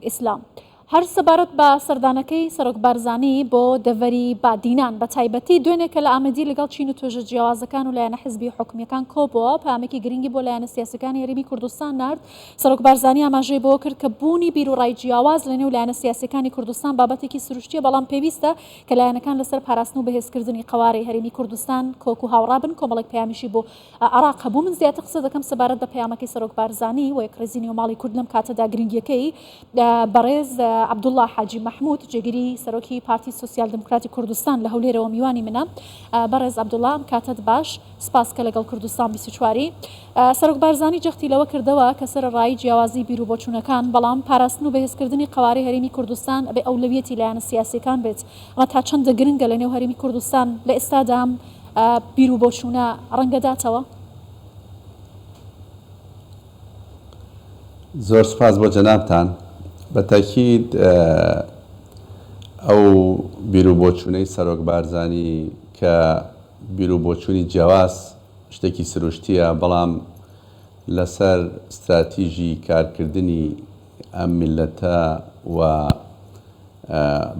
ئیسلام هەر سەبارەت بە سەردانەکەی سەرۆک بارزانی بۆ دەڤەری بادینان بە تایبەتی دوێنێ کە لە ئامەدی لەگەڵ چین و توێژە جیاوازەکان و لایەنە حزبی و حکومیەکان کۆبووە پامێکی گرنگی بۆ لایەنە سیاسەکانی هەرێمی کوردستان نارد سەرۆک بارزانی ئاماژەی بۆ کرد کە بوونی بیروڕای جیاواز لە نێو لایەنە سیاسەکانی کوردستان بابەتێکی سروشتیە بەڵام پێویستە کە لایەنەکان لەسەر پاراستن و بەهێزکردنی قەوارەی هەرێمی کوردستان کۆک و هاوڕابن کۆمەڵێک پەیامیشی بۆ عراق هەبوو، من زیاتر قسە دەکەم سەبارەت بە پەیامەکەی سەرۆک بارزانی و یەکڕیزی نێو ماڵی کورد لەم کاتەدا گرنگیەکەی بەڕێز عەبدوڵا حاجی مەحمود جێگری سەرۆکی پارتی سۆسیال دیموکراتی کوردستان لە هەولێرەوە میوانی منە بەڕێز عەبدوڵا ئەم کاتەت باش سپاس کە لەگەڵ کوردستان بیست و چواری سەرۆک بارزانی جەختی لەوە کردەوە کە سەرەڕایی جیاوازی بیر و بۆچوونەکان بەڵام پاراستن و بەهێزکردنی قەوارەی هەرێمی کوردستان ئەبێ ئەولەویەتی لایەنە سیاسیەکان بێت ئەمە تا چەندە گرنگە لەنێو هەرێمی کوردستان لە ئێستادا ئەم بیر و بۆچوونە ڕەنگدەداتەوە؟ زۆر سوپاس بۆ جەنابتان. بە تەئکید ئەو بیر و بۆچوونەی سەرۆک بارزانی کە بیر و بۆچوونی جیاواز شتێکی سروشتییە، بەڵام لەسەر ستراتیژی کارکردنی، ئەم میللەتە و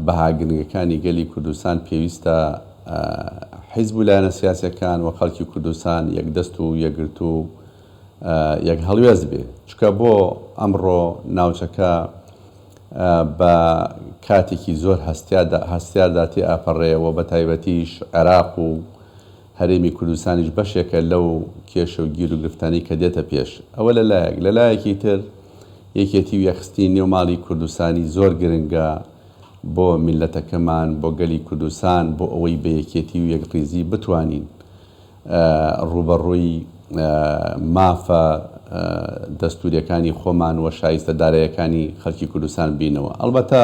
بەها گرنگەکانی گەلی کوردستان پێویستە حیزب و لایەنە سیاسیەکان و خەڵکی کوردستان یەک دەست و یەکگرتوو و یەک هەڵوێست بێ چونکە بۆ ئەمڕۆ ناوچەکە بە کاتێکی زۆر هەستیاردا تێ ئەپەڕێ و بەتایبەتیش عێراق و هەرێمی کوردستانیش بەشێکە لەو کێشە و گیروگرفتانەی کە دێتە پێش. ئەوە لە لایەک، لە لایەکی تر یەکێتی و یەکخستنی نێو ماڵی کوردستانی زۆر گرنگە بۆ میللەتەکەمان، بۆ گەلی کوردستان، بۆ ئەوەی بە یەکێتی و یەکڕیزی بتوانین ڕووبەڕووی مافە دەستوورییەکانی خۆمان و شایستە داراییەکانی خەڵکی کوردستان بینەوە. ئەڵبەتە.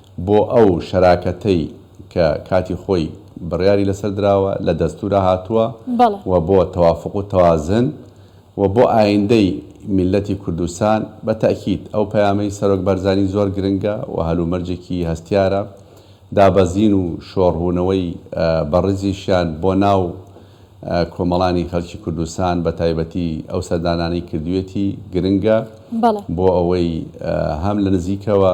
بۆ ئەو شەراکەتەی کە کاتی خۆی بڕیاری لەسەر دراوە، لە دەستوورا هاتووە بەڵێ. و بۆ تەوافوق و تەوازن و بۆ ئایندەی میللەتی کوردستان، بە تەئکید ئەو پەیامەی سەرۆک بەرزانی زۆر گرنگە و هەلومەرجێکی هەستیارە، دابەزین و شۆڕبوونەوەی بەڕیزیشیان بۆ ناو کۆمەڵانی خەلکی کوردستان بە تایبەتی ئەو سەردانانەی کردوویەتی گرنگە بەڵێ. بۆ ئەوەی هەم لە نزیکەوە،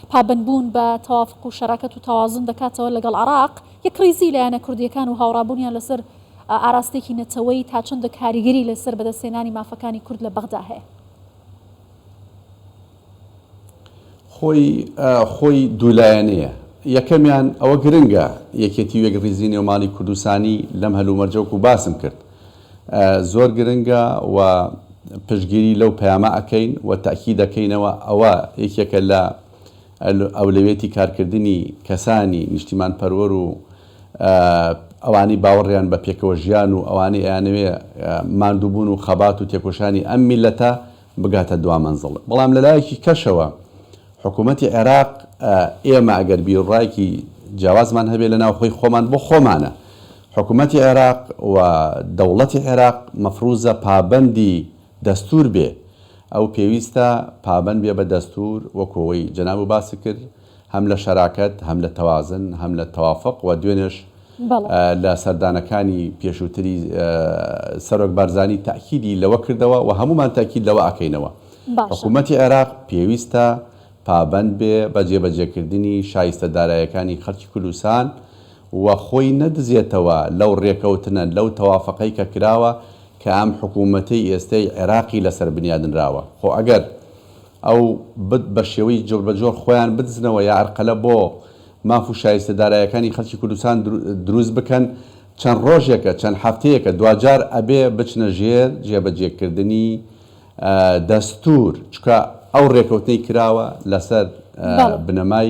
پابەندبوون بە تەوافق و شەراکەت و تەوازن دەکاتەوە لەگەڵ عێراق، یەکڕیزیی لایەنە کوردییەکان و هاوڕابوونیان لەسەر ئاراستەیەکی نەتەوەیی تا چەندە کاریگەری لەسەر بەدەستهێنانی مافەکانی کورد لە بەغدا هەیە. خۆی دوولایەنەیە. یەکەمیان، ئەوە گرنگە، یەکێتی و یەکڕیزیی نێوماڵی کوردستانی لەم هەلومەرجە وەکو باسم کرد، زۆر گرنگە و پشتگیری لەو پەیامە ئەکەین و تەئکید دەکەینەوە ئەوە یەکێکە لە ئەولەویەتی کارکردنی کەسانی نیشتیمان پەروەر و ئەوانەی باوەڕیان بە پێکەوە ژیان و ئەوانەی ئەیانەوێ ماندووبوون و خەبات و تێکۆشانی ئەم میللەتە بگاتە دوا مەنزڵ بەڵام لە لایەکی کەشەوە حکوومەتی عێراق ئێمە ئەگەر بیروڕایەکی جیاوازمان هەبێ لە ناوخۆی خۆمان بۆ خۆمانە حکوومەتی عێراق و دەوڵەتی عێراق مەفرووزە پابەندی دەستوور بێ ئەو پێویستە پابەند بێ بە دەستوور وەکوو ئەوەی جەنابو باسی کرد هەم لە شەراکەت، هەم لە تەوازن، هەم لە تەوافق و دوێنێش لە سەردانەکانی پێشووتری سەرۆک بارزانی تەئکیدی لەوە کردەوە و هەموومان تەئکید لەوە ئەکەینەوە حکوومەتی عێراق پێویستە پابەند بێ بە جێبەجێکردنی شایستە دارایەکانی خەڵکی کوردستان و خۆی نەدزێتەوە لەو ڕێکەوتنە، لەو تەوافقەی کە کراوە کە ئەم حکوومەتەی ئێستەی عێراقی لەسەر بنیادنراوە. خۆ ئەگەر. ئەو بت بە شێوەی جۆر بە جۆر خۆیان بدزنەوە یا ئەرقەلە بۆ ماف و شایستە دارایەکانی خەلکی کوردستان دروست بکەن چەند رۆژێکە چەند هەفتەیەکە دواجار ئەبێ بچنە ژێر جێ بە جێ کردنی دەستور چونکە ئەو رێکەوتنەی کراوە لەسەر بنەمای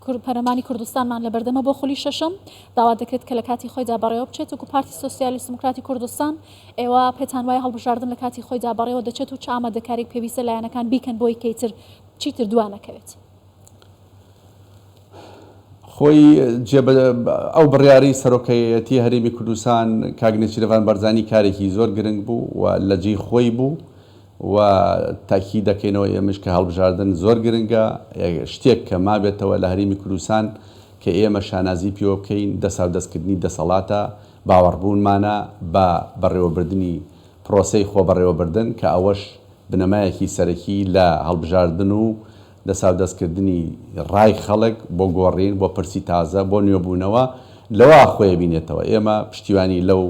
کورد پەرلەمانی کوردستانمان لەبەردەمە بۆ خولی شەشەم، داوا دەکرێت کە لە کاتی خۆیدا بەڕێوە بچێت، وەکو پارتی سۆسیالیست دیموکراتی کوردستان ئێوە پێتان وایە هەڵبژاردن لە کاتی خۆیدا بەڕێوە دەچێت و چ ئامادەکارییەک پێویستە لایەنەکان بیکەن بۆی کەی تر چیتر دوا نەکەوێت؟ خۆی جێ ئەو بڕیارەی سەرۆکەیەتی هەرێمی کوردستان کاک نێچیرەڤان بەرزانی کارێکی زۆر گرنگ بوو و لە جێی خۆی بوو و تاکید دەکەینەوە ئێمەش کە هەڵبژاردن زۆر گرنگە، شتێک کە مابێتەوە لە هەرێمی کوردستان کە ئێمە شانازی پێوە بکەین دەساودەستکردنی دەسەڵاتە، باوەڕبوونمانە بە بەڕێوەبردنی پرۆسەی خۆبەڕێوەبردن کە ئەوەش بنەمایەکی سەرەکی لە هەڵبژاردن و دەساودەستکردنی ڕای خەڵک بۆ گۆڕین، بۆ پرسی تازە، بۆ نوێبوونەوە لەوە خۆیەبینێتەوە، ئێمە پشتیوانی لەو.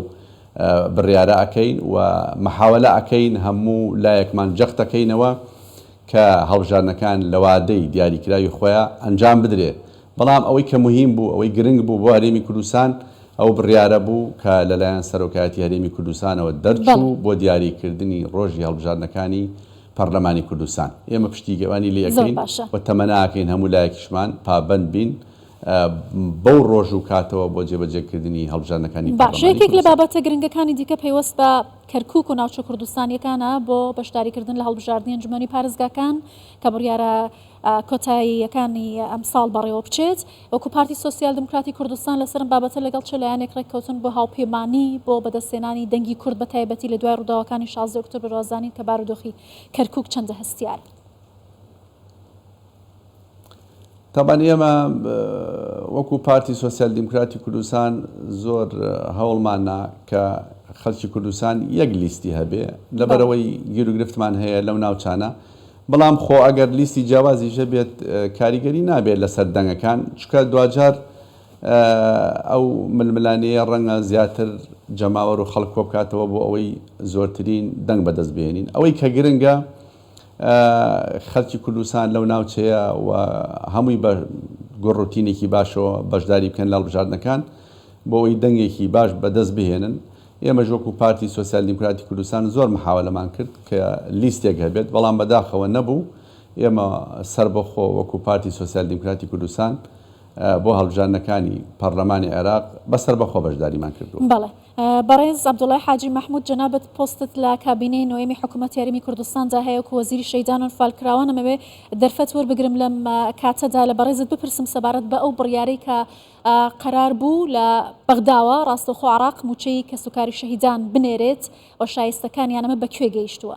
بڕیارە ئەکەین و محاولە ئەکەین هەموو لایەکمان جەخت ئەکەینەوە کە هەڵبژاردنەکان لە وادەی دیاریکراوی خۆیا ئەنجام بدرێ بەڵام ئەوەی کە مهیم بوو ئەوەی گرنگ بوو بۆ هەرێمی کوردستان ئەو بڕیارە بوو کە لە لایەن سەرۆکایەتی هەرێمی کوردستانەوە دەرچوو بۆ دیاری کردنی ڕۆژی هەڵبژاردنەکانی پەڕلەمانی کوردستان ئێمە پشتیگەوانی لێ ئەکەین و تەمەنا ئەکەین هەموو لایەکیشمان پابەند بین بەو ڕۆژ و کاتەوە بۆ جێبەجێکردنی هەڵبژاردنەکانی پەڕلەمانی کوردستان. بەشێک لە بابەتە گرنگەکانی دیکە پەیوەست بە کەرکوک و ناوچە کوردستانیەکانە بۆ بەشداریکردن لە هەڵبژاردنی ئەنجومەنی پارێزگاکان کە بڕیارە کۆتاییەکانی ئەمساڵ بەڕێوەبچێت، وەکو پارتی سۆسیال دیموکراتی کوردستان لەسەرم بابەتە لەگەڵ چ لایەنێک ڕێککەوتن بۆ هاوپێمانی بۆ بەدەستهێنانی دەنگی کورد بەتایبەتی لە دوای ڕوداوەکانی شازدە ئۆکتۆبر وازانین کە بارودۆخی کەرکوک چەندە هەستیارە. تابان ئێمە وەکو پارتی سۆسیال دیموکراتی کوردستان زۆر هەوڵماننا کە خەڵکی کوردستان یەک لیستی هەبێ لەبەرەوەی گیروگرفتمان هەیە لەو ناوچانە بەڵام خۆ ئەگەر لیستی جیاوازیش هەبێت کاریگەری نابێت لەسەر دەنگەکان چونکە دواجار ئەو ململانێیە ڕەنگە زیاتر جەماوەر و خەڵک کۆبکاتەوە بۆ ئەوەی زۆرترین دەنگ بەدەست بهێنین ئەوەی کە گرنگە خەلکی کوردستان لەو ناوچەیە و هەمووی بە گوڕ و تینێکی باشەوە بەشداری بکەن لە هەڵبژاردنەکان بۆ ئەوەی دەنگێکی باش بە دەست بهێنن. ئێمەش وەکو پارتی سۆسیال دیموکراتی کوردستان زۆر محاولەمان کرد کە لیستێک هەبێت بەڵام بەداخەوە نەبوو. ئێمە سەربەخۆ وەکو پارتی سۆسیال دیموکراتی کوردستان بۆ هەڵبژاردنەکانی پەڕلەمانی عێراق بە سەربەخۆ بەشداریمان کردووە. بەڕێز عەبدوڵای حاجی مەحمود جەنابت پۆستت لە کابینەی نۆیەمی حکومەت هەرێمی کوردستاندا هەیە وەکو وەزیری شەیدان و انفالکراوان ئەمەوێ دەرفەت وەربگرم لەم کاتەدا لە بەڕێزت بپرسم سەبارەت بە ئەو بڕیارەی کە قەرار بوو لە بەغداوە ڕاستەوخۆ عراق موچەی کەسوکاری شەهیدان بنێرێت و شایستەکانیان ئەمە بە کوێ گەیشتووە؟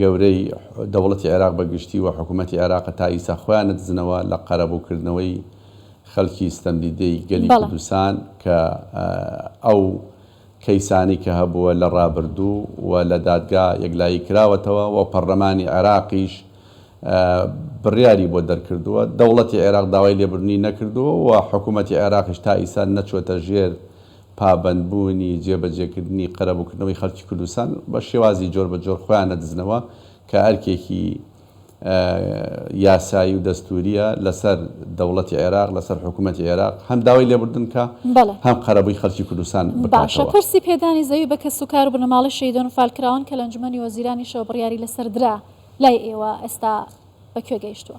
گەورەی دەوڵەتی عێراق بە گشتی و حکوومەتی عێراق تا ئیستا خۆیان ندزنەوە لە قەرەبوو کردنەوەی خەلکی ستەمدیدەی گەلی بەڵێ. کوردستان کە ئەو کەیسانەی کە هەبووە لە ڕابردوو و لە دادگا یەکلایی کراوەتەوە و پەڕلەمانی عێراقیش بڕیاری بۆ دەرکردووە دەوڵەتی عێراق داوای لێبوردنی نەکردووە و حکوومەتی عێراقیش تا ئیستا نەچووەتە ژێر پابەندبوونی جێبەجێکردنی قەرەبووکردنەوەی خەڵکی کوردستان بە شێوازی جۆربەجۆر خۆیان نەدزنەوە کە ئەرکێکی یاسایی و دەستوورییە لەسەر دەوڵەتی عێراق لەسەر حکوومەتی عێراق هەم داوای لێبوردن کە هەم قەرەبووی خەڵکی کوردستان باشە پرسی پێدانی زەوی بە کەس و کار و بنەماڵەی شەهیدان و فالکراوان کە لە ئەنجومەنی وەزیرانیشەوە بڕیاری لەسەر درا لای ئێوە ئێستا بە کوێ گەیشتووە؟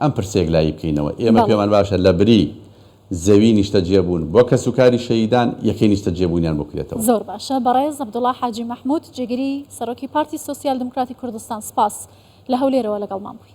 ئەم پرسە یەکلایی بکەینەوە، ئێمە پێمان باشە لە بری زەوی نیشتەجێ بوون بۆ کەس و کاری شەهیدان، یەکەی نیشتەجێ بوونیان بۆ کرێتەوە. زۆر باشە بەڕێز عەبدوڵا حاجی مەحمود جێگری سەرۆکی پارتی سۆسیال دمکراتی کوردستان سپاس لە هەولێرەوە لەگەڵمان بووی.